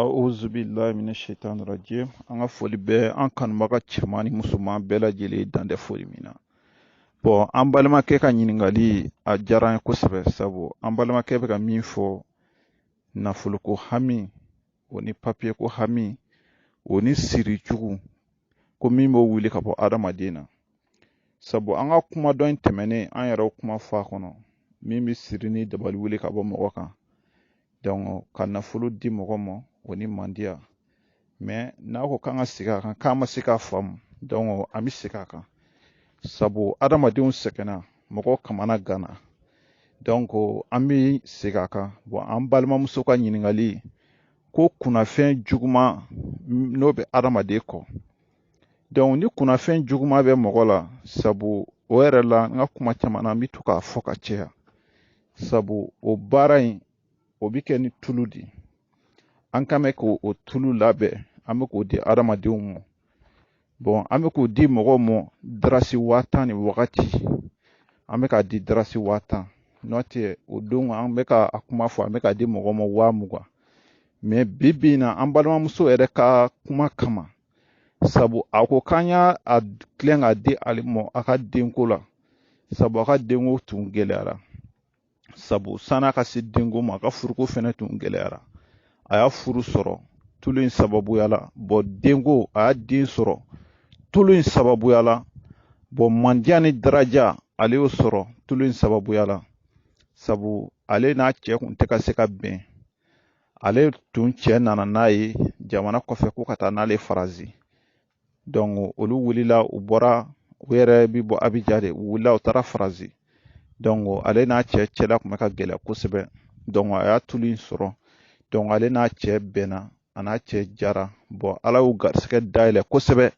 A'udhu billahi minash shaitani rajim. An ka foli bɛ an kanubaga cɛman ni musoman bɛɛ lajɛlen dan tɛ foli min na. Bon an balimakɛ ka ɲininkali a diyara n ye kosɛbɛ sabu an balimakɛ bɛ ka min fɔ nafoloko hami o ni papiyeko hami o ni siri jugu ko min b'o wuli ka bɔ adamaden na. sabu an ka kuma dɔ in tɛmɛnen an yɛrɛ kuma fɔ a kɔnɔ min bɛ siri ni dabali wuli ka bɔ mɔgɔ kan dɔnku ka nafolo di mɔgɔ ma o ni mandiya mɛ n'a ko k'an ka segin a kan k'an ma se k'a faamu dɔnku an bɛ segin a kan sabu adamadenw sɛgɛnna mɔgɔ kamana ganna dɔnku an bɛ segin a kan bɔn an balimamuso ka ɲininkali ko kunnafɛn juguman n'o bɛ adamaden kɔ dɔnku ni kunnafɛn juguman bɛ mɔgɔ la sabu o yɛrɛ la n ka kuma caman na n bɛ to k'a fɔ ka caya sabu o baara in o bɛ kɛ ni tulu de ye an kan bɛ k'o tulu labɛn an bɛ k'o di adamadenw ma bɔn an bɛ k'o di mɔgɔw ma darasi waa tan ni wagati an bɛ k'a di darasi waa tan n'o tɛ o don an bɛ ka a kuma fɔ an bɛ k'a di mɔgɔw ma waa mugan mɛ bi bi in na an balimamuso yɛrɛ ka kuma kama sabu a ko k'an y'a a tilen k'a di ale ma a ka denko la sabu a ka denko tun gɛlɛyara sabu san'a ka se denko ma a ka furuko fɛnɛ tun gɛlɛyara a y'a furu sɔrɔ tulu in sababuya la bɔn denko a y'a den sɔrɔ tulu in sababuya la bɔn mandiya ni daraja ale y'o sɔrɔ tulu in sababuya la sabu ale n'a cɛ kun tɛ ka se ka bɛn ale tun cɛ nana n'a ye jamana kɔfɛ ko ka taa n'ale faransi donc olu wulila u bɔra u yɛrɛ bi bɔ abijan de u wulila u taara faransi donc ale n'a cɛ cɛla kun bɛ ka gɛlɛya kosɛbɛ donc a y'a tulu in sɔrɔ donc ale n'a cɛ bɛnna a n'a cɛ jara bɔn ala y'u garisigɛ dayɛlɛ kosɛbɛ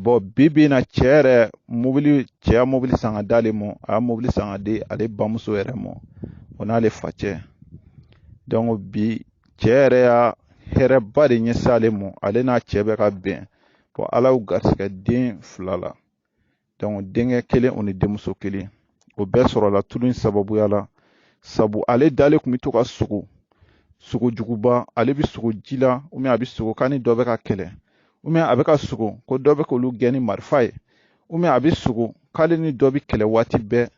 bɔn bi bi in na cɛ yɛrɛ mobili cɛ y'a mobili san ka d'ale ma a y'a mobili san ka di ale bamuso yɛrɛ ma o n'ale facɛ donc bi cɛ yɛrɛ y'a hɛrɛba de ɲɛsin ale ma ale n'a cɛ bɛ ka bɛn bɔn ala y'u garisigɛ den fila la donc denkɛ kelen o ni denmuso kelen o bɛɛ sɔrɔla tulu in sababuya la sabu ale dalen kun bɛ to ka sogo sogo juguba ale bɛ sogo ji la ou bien a bɛ sogo k'a ni dɔ bɛ ka kɛlɛ ou bien a bɛ ka sogo ko dɔ bɛ k'olu gɛn ni marifa ye ou bien a bɛ sogo k'ale ni dɔ bɛ kɛlɛ waati bɛɛ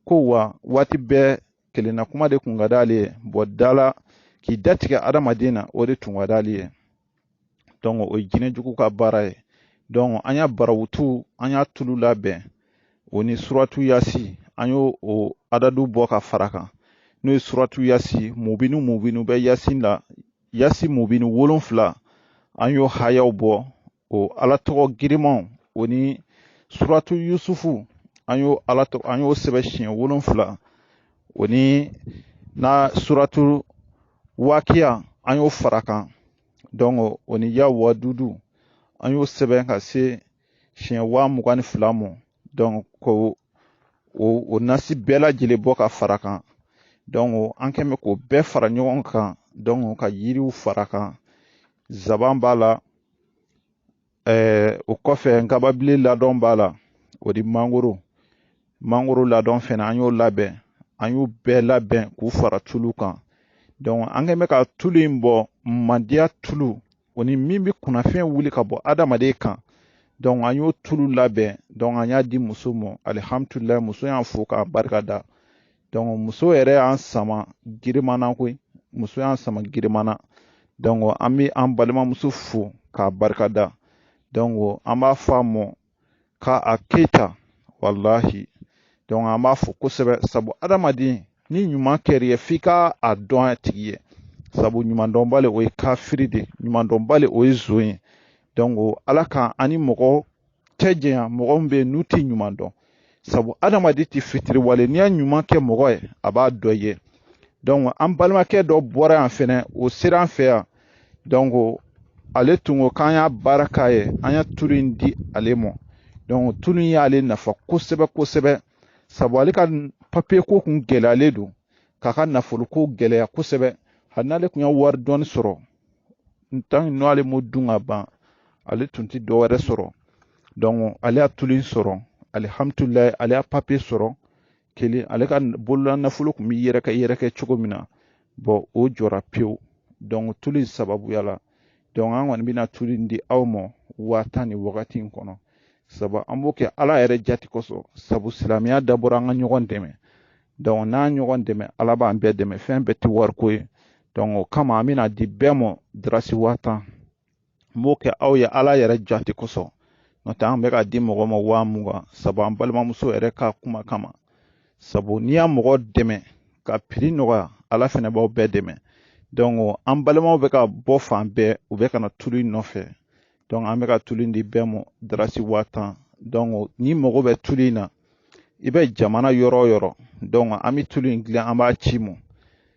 ko wa waati bɛɛ kelenna kuma de kun ka d'ale ye bɔn dala k'i datigɛ adamaden na o de tun ka d'ale ye donc o ye jinɛ jugu ka baara ye donc an y'a barawutu an y'a tulu labɛn o ni suratu yasi an y'o o adadu bɔ ka fara kan n'o ye suratu yasi mubinu mubinu bɛ yasi la yasi mubinu wolonfila an y'o hayaw bɔ o ala tɔgɔ girimanw o ni suratu yusufu an y'o ala tɔgɔ an y'o sɛbɛn siɲɛ wolonfila o ni na suratu wakiya an y'o fara kan donc o ni ya wadudu an y'o sɛbɛn ka se siɲɛ waa mugan ni fila mɔ donc ko o o nasi bɛɛ lajɛlen bɔ ka fara kan donc an kɛn bɛ k'o bɛɛ fara ɲɔgɔn kan donc ka yiriw fara kan zaban b'a la ɛɛ o kɔfɛ nkababile ladɔn b'a la o di mangoro mangoro ladɔn fɛnɛ an y'o labɛn an y'u bɛɛ labɛn k'u fara tulu kan donc an kɛn bɛ ka tulu in bɔ mandiya tulu o ni min bɛ kunnafɛn wuli ka bɔ adamaden kan donc an y'o tulu labɛn donc an y'a di muso ma alihamdulilayi muso y'an fo k'a barika da donc muso yɛrɛ y'an sama girimana koyi muso y'an sama girimana donc an bɛ an balimamuso fo k'a barikada donc an b'a fɔ a mɔ k'a keyita walahi donc an b'a fo kosɛbɛ sabu adamaden ni ɲuman kɛr'i ye f'i ka a dɔn a tigi ye sabu ɲumandɔnbali o ye kafiri de ɲumandɔnbali o ye zon ye donc ala k'an ani mɔgɔ cɛ janya mɔgɔ min bɛ yen n'u tɛ ɲuman dɔn sabu adamaden tɛ fitiriwale n'i y'a ɲuman kɛ mɔgɔ ye a b'a dɔn i ye an balimakɛ dɔ bɔra yan fɛnɛ o sera an fɛ yan ale tun ko k'an y'a baara k'a ye an y'a tulu in di ale ma tulu in y'ale nafa kosɛbɛ kosɛbɛ sabu ale ka papiye ko kun gɛlɛyalen don k'a ka nafolo ko gɛlɛya kosɛbɛ hali n'ale tun ye wari dɔɔni sɔrɔ n tan n'o ale m'o dun ka ban ale tun tɛ dɔ wɛrɛ sɔrɔ donc ale y'a tulu in sɔrɔ alihamdulilayi ale y'a papiye sɔrɔ kelen ale ka bolola nafolo tun bɛ yɛrɛkɛ yɛrɛkɛ cogo min na bon o jɔra pewu donc tulu in sababuya la donc an kɔni bɛna tulu in di aw ma waa tan ni wagati in kɔnɔ sabu an b'o kɛ ala yɛrɛ jati kosɔn sabu silamɛya dabɔra an ka ɲɔgɔn dɛmɛ donc n'an ɲɔgɔn dɛmɛ ala b'an bɛɛ dɛmɛ fɛn bɛɛ tɛ wariko ye o kama an bɛna di bɛɛ mɔ darasi waa tan n b'o kɛ aw ye ala yɛrɛ jate kosɔn n'o tɛ an bɛ ka di mɔgɔ ma waa mugan sabu an balimamuso yɛrɛ ka kuma kama sabu n'i y'a mɔgɔ dɛmɛ ka prix nɔgɔya ala fɛnɛ b'aw bɛɛ dɛmɛ donc an balimaw bɛ ka bɔ fan bɛɛ u bɛ ka na tulu in nɔfɛ donc an bɛ ka tulu in di bɛɛ mɔ darasi waa tan donc n'i mago bɛ tulu in na i bɛ jamana yɔrɔ o yɔrɔ donc an bɛ tulu in dilan an b'a c'i ma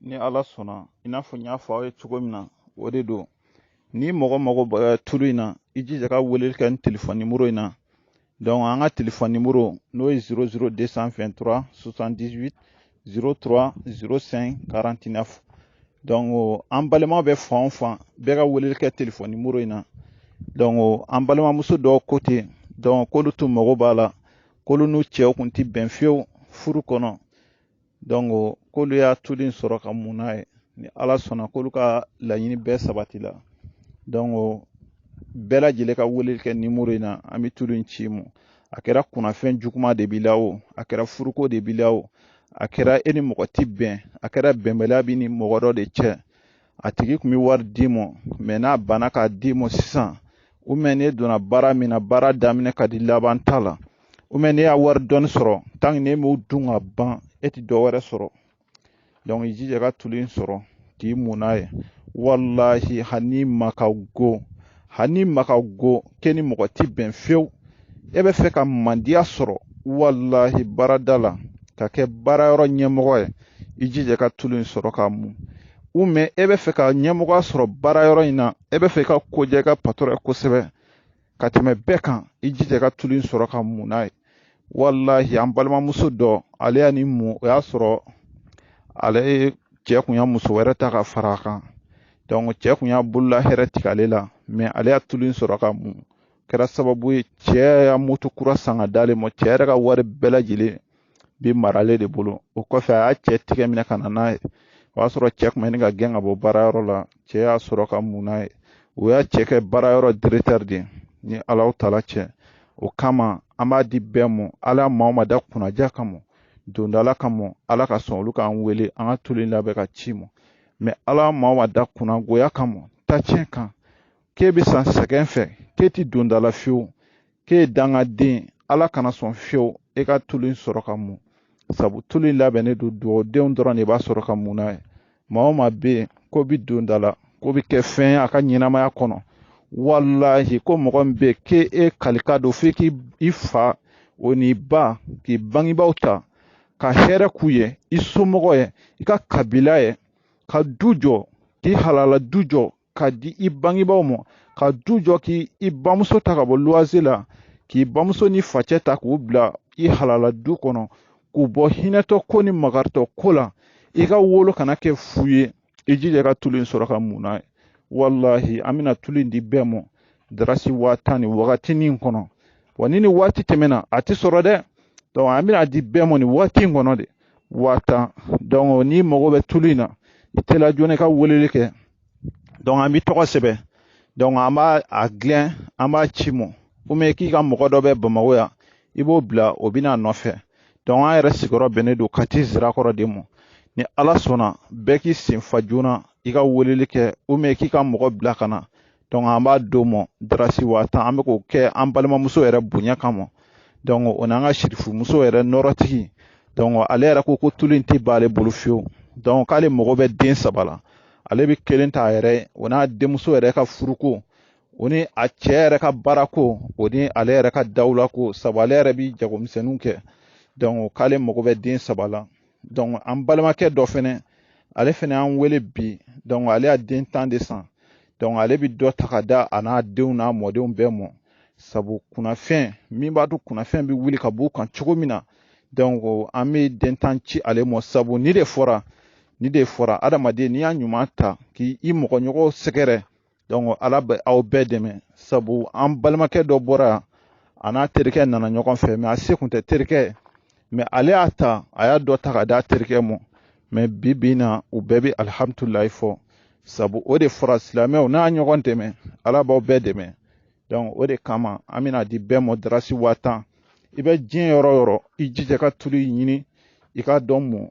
ni ala sɔnna i n'a fɔ n y'a fɔ aw ye cogo min na o de don ni mɔgɔ mago bɛ tulu in na i jija ka weleli kɛ ni telefɔni nimoro in na donc an ka telefɔni nimoro n'o ye 00 223 78 03 05 49 donc an balimaw bɛ fan o fan bɛɛ ka weleli kɛ telefɔni nimoro in na donc an balimamuso dɔw ko ten donc k'olu tun mago b'a la k'olu n'u cɛw kun ti bɛn fiyewu furu kɔnɔ donc k'olu y'a tulu in sɔrɔ ka mun n'a ye ni ala sɔnna k'olu ka laɲini bɛɛ sabati la donc bɛɛ lajɛlen ka weleli kɛ nimoro in na an bɛ tulu in ci mu a kɛra kunnafɛn juguman de b'i la o a kɛra furuko de b'i la o a kɛra e ni mɔgɔ ti bɛn a kɛra bɛnbaliya b'i ni mɔgɔ dɔ de cɛ a tigi kun bɛ wari d'i mɔ mais n'a banna k'a d'i mɔ sisan ou bien n'e donna baara min na baara daminɛ ka di laban t'a la ou bien n'e y'a wari dɔɔni sɔrɔ tant que n'e m'o dun ka ban e ti dɔ wɛrɛ sɔrɔ donc i jija ka tulu in sɔrɔ k'i mun n'a ye walahi hali n'i ma ka go hali n'i ma ka go k'e ni mɔgɔ ti bɛn fewu e bɛ fɛ ka mandiya sɔrɔ walahi baarada la ka kɛ baara yɔrɔ ɲɛmɔgɔ ye i jija ka tulu in sɔrɔ k'a mun ou bien e bɛ fɛ ka ɲɛmɔgɔya sɔrɔ baara yɔrɔ in na e bɛ fɛ ka ko diya i ka patron ye kosɛbɛ ka tɛmɛ bɛɛ kan i jija ka tulu in sɔrɔ ka mun n'a ye walahi an balimamuso dɔ ale y'a nin mun o y'a sɔrɔ ale ye cɛ kun ya muso wɛrɛ ta ka fara a kan donc cɛ kun y'a bolola hɛrɛ tigɛ ale la mais ale y'a tulu in sɔrɔ ka mun kɛra sababu ye cɛ ya moto kura san ka d'ale ma cɛ yɛrɛ ka wari bɛɛ lajɛlen bi mara ale de bolo o kɔfɛ a y'a cɛ tigɛ minɛ ka na n'a ye o y'a sɔrɔ cɛ kun bɛ ɲini ka gɛn ka bɔ baarayɔrɔ la cɛ y'a sɔrɔ ka mun n'a ye o y'a cɛ kɛ baara yɔrɔ directeur de ye ni alahu taala cɛ o kama an b'a di bɛɛ mɔ ala ya maa o maa da kunnadiya kama dondala kama ala ka sɔn olu k'an wele an ka tulu in labɛn ka ci mɔ mais ala maa o maa da kunnagoya kama tacɛn kan k'e bɛ sa sɛgɛn fɛ k'e ti dondala fiyewu k'e ye dangaden ala kana sɔn fiyewu e ka tulu in sɔrɔ ka mun sabu tulu in labɛnnen don duwawudenw dɔrɔn de b'a sɔrɔ ka mun n'a ye maa o maa bɛ yen k'o bi don da la k'o bi kɛ fɛn ye a ka ɲɛnamaya kɔnɔ walahi ko mɔgɔ min bɛ k'e e kalikan don f'i k'i fa o n'i ba k'i bangebaaw ta ka hɛrɛ k'u ye i somɔgɔ ye i ka kabila ye ka du jɔ k'i halala du jɔ ka di i bangebaaw ma ka du jɔ k'i bamuso ta ka bɔ luwanse la k'i bamuso ni facɛ ta k'u bila i halala du kɔnɔ k'u bɔ hinɛtɔ ko ni makaritɔ ko la i ka wolo kana kɛ fu ye i jija ka tulu in sɔrɔ ka mun n'a ye walahi an bɛna tulu in di bɛɛ ma darasi waa tan nin wagatinin kɔnɔ wa ni nin waati tɛmɛna a tɛ sɔrɔ dɛ donc an bɛn'a di bɛɛ ma nin waati in kɔnɔ de waa tan donc n'i mago bɛ tulu in na i teliya joona i ka weleli kɛ donc an b'i tɔgɔ sɛbɛn donc an b'a gilɛn an b'a ci mɔ ou bien k'i ka mɔgɔ dɔ bɛ bamako yan i b'o bila o bɛ na a nɔfɛ donc an yɛrɛ sigiyɔrɔ bɛnnen don kati zirakɔrɔ de mɔ ni ala sɔnna bɛɛ k'i sen fa joona i ka weleli kɛ ou bien k'i ka mɔgɔ bila ka na donc an b'a d'o ma darasi waa tan an bɛ k'o kɛ an balimamuso yɛrɛ bonya kama donc o n'an ka sirifumuso yɛrɛ nɔrɔtigi donc ale yɛrɛ ko ko tulu in tɛ ban ale bolo fiyewu donc k'ale mago bɛ den saba la ale bɛ kelen ta a yɛrɛ ye o n'a denmuso yɛrɛ ka furuko o ni a cɛ yɛrɛ ka baarako o ni ale yɛrɛ ka dawulako sabu ale yɛrɛ bɛ jagomisɛnninw kɛ donc k'ale mago bɛ den saba la donc an balimakɛ dɔ fɛnɛ ale fɛnɛ y'an wele bi donc ale y'a den tan de san donc ale bi dɔ ta ka da a n'a denw n'a mɔdenw bɛɛ mɔ sabu kunnafɛn min b'a to kunnafɛn bɛ wuli ka b'u kan cogo min na donc an bɛ den tan ci ale mɔ sabu ni de fɔra ni de fɔra adamaden n'i y'a ɲuman ta k'i mɔgɔɲɔgɔn sɛgɛrɛ donc ala bɛ aw bɛɛ dɛmɛ sabu an balimakɛ dɔ bɔra a n'a terikɛ nana ɲɔgɔn fɛ mais a se kun tɛ terikɛ mais ale y'a ta a y'a dɔ ta ka d'a terikɛ ma mais bi bi na u bɛɛ bɛ alihamudulilayi fɔ sabu o de fɔra silamɛw n'a ɲɔgɔn dɛmɛ ala b'aw bɛɛ dɛmɛ donc o de kama an bɛn'a di bɛɛ mɔ darasi waa tan i bɛ diɲɛ yɔrɔ o yɔrɔ i jija ka tulu ɲini i ka dɔ mun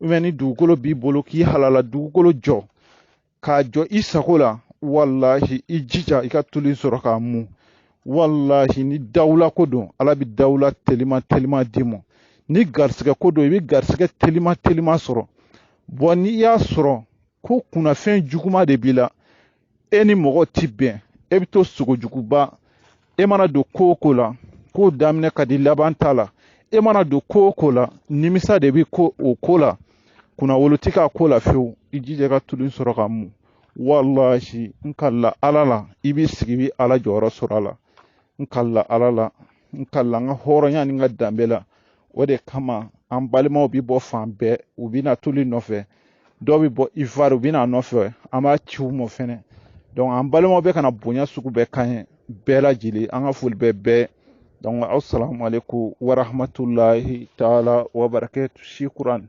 ou bien ni dugukolo b'i bolo k'i halala dugukolo jɔ k'a jɔ i sago la walahi i jija i ka tulu sɔrɔ k'a mun walahi ni dawula ko don ala bi dawula telima telima d'i ma ni garisɛgɛ ko don i bi garisɛgɛ telima telima sɔrɔ bon n'i y'a sɔrɔ ko kunnafɛn juguma de b'i la e ni mɔgɔ ti bɛn e bɛ to sogojuguba e mana don ko o ko la k'o daminɛ ka di laban t'a la e mana don ko o ko la nimisa de bɛ o ko la kunnawolo ti k'a ko la fewu i jija ka tulu sɔrɔ k'a mun walahi n kala ala la i b'i sigi i bɛ ala jɔyɔrɔ sɔrɔ a la n kala ala la n kala n ka hɔrɔnya ni n ka danbe la o de kama an balimaw bi bɔ fan bɛɛ u bi na tulu nɔfɛ dɔw bi bɔ ivoire u bi n'a nɔfɛ an b'a ci u mɔ fɛnɛ donc an balimaw bɛ ka na bonya sugu bɛɛ k'an ye bɛɛ lajɛlen an ka foli bɛ bɛɛ donc asalamu aleykum warahmatulahi taala wabarakatu shukran